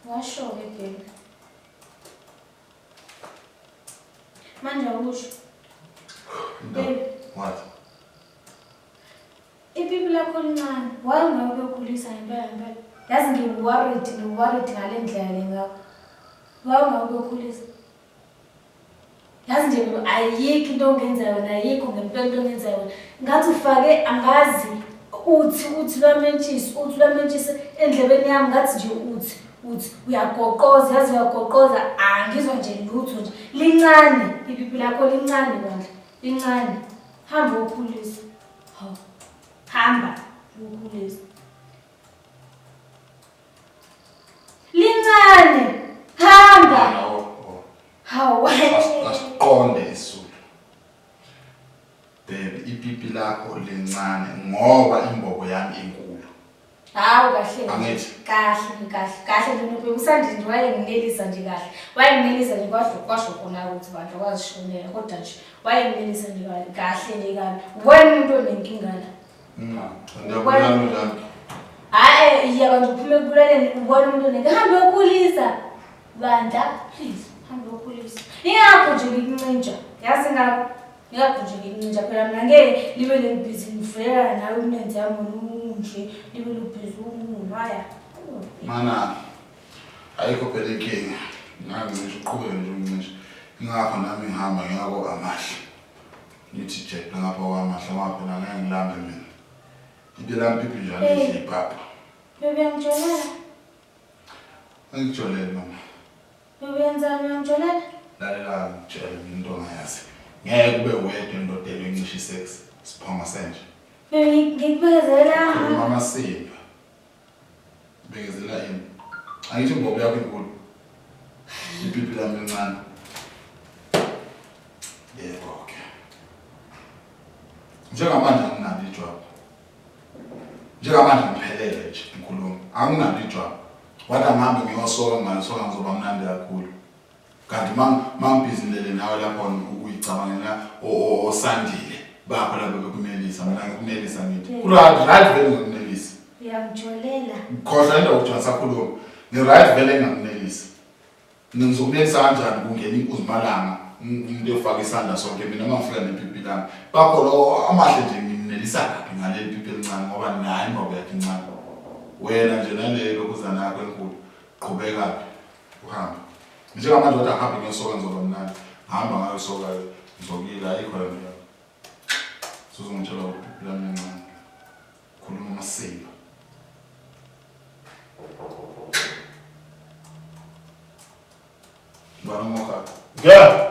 Washo-ke Bheka. Manje awusho. Bheka. What? Ipipi lakho lincane. Why ungeke ukhulisa ngempela ngempela? Yazi ngiworried, ngiworried ngale ndlela le ngakho. Why ungeke ukhulisa? yazi nje mlo ayikho into ongenza yona ayikho ngempela into ongenza yona ngathi ufake angazi uthi uthi lwamentshisi uthi lwamentshisi endlebeni yami ngathi nje uthi uthi uyagoqoza yazi uyagoqoza angizwa nje lutho nje lincane ipipi lakho lincane bandla lincane hamba ukhulisa hamba ukhulisa Lincane. Hamba. Hawu. Asiqonde isulu. Baby, ipipi lakho lincane ngoba imbobo yami inkulu. Hawu kahle. Angithi. Kahle, kahle. Kahle nje usandile nje wayenginelisa nje kahle. Wayenginelisa nje kwasho kwasho khona ukuthi bantu wazishonela kodwa nje wayenginelisa nje kahle nje kahle. Ngwena umuntu onenkinga la. hayi iya bantu uphume ekubulaleni ubona umuntu oneke hambe yokhulisa bandla please hambe yokhulisa ingagujeki ikuncintsha yazi ngako ngiyagujeka incintsha phela mna ngeke libe lelibhizi ngivulela nawe umlenze yami ununje libe lubhizi umuntu haya mana ayikho phela inkinga ngangincisha uqhubeke nje uncisha ingakho nami ngihamba ngiyako amahle Ngithi jeqe ngapha kwamahla ngoba phela ngeke ngilambe mina. Into elampipi njalo Hey. idla ipapa. Bebe uyangijolala. Angijoleli mama. Bebe uyenzani uyangijolala? Lalela ngitshele mina into ongayazi. Ngeke ube wedwa indoda ebencisha isex. Siphongo senje. Bebe ngi- ngikubekezelanga. Mama Simba. Bekezela yini? Angithi imbobo yakho inkulu. Ipipi lami lincane. Yebo ke. Njengamanje anginalo ijwabu. Njengamanje ngiphelele nje ngikhuluma. Anginalo ijwabu. Wathi angihambe ngiyosoka ngingalisoka ngizoba mnandi kakhulu. Kanti mangibhizinele nawe lapho ukuyicabangela osandile bakho lapho bekunelisa mina ngikunelisa ngithi. Right right vele ngikunelisa. Uyamjolela. Khohlwa into uJohn sakhuluma. Ngi right vele ngikunelisa. Ngizokunelisa kanjani kungena inkuzimalanga umuntu efaka isandla sonke mina mangifika nepipi lami. Bakho lo amahle nje nginelisa kabi ngaleli pipi elincane ngoba nayi ngoba yakhe incane. Wena nje nale lokuzana yakho enkulu qhubeka. Uhamba. Njengamanje wathi ahambe ngesoka ngizoba mnandi. Hamba ngayo soka ngizokuyila ayikho le nto. Suzongitshela ukuthi uphila mncane. Khuluma amasimba. Bana moka. Yeah.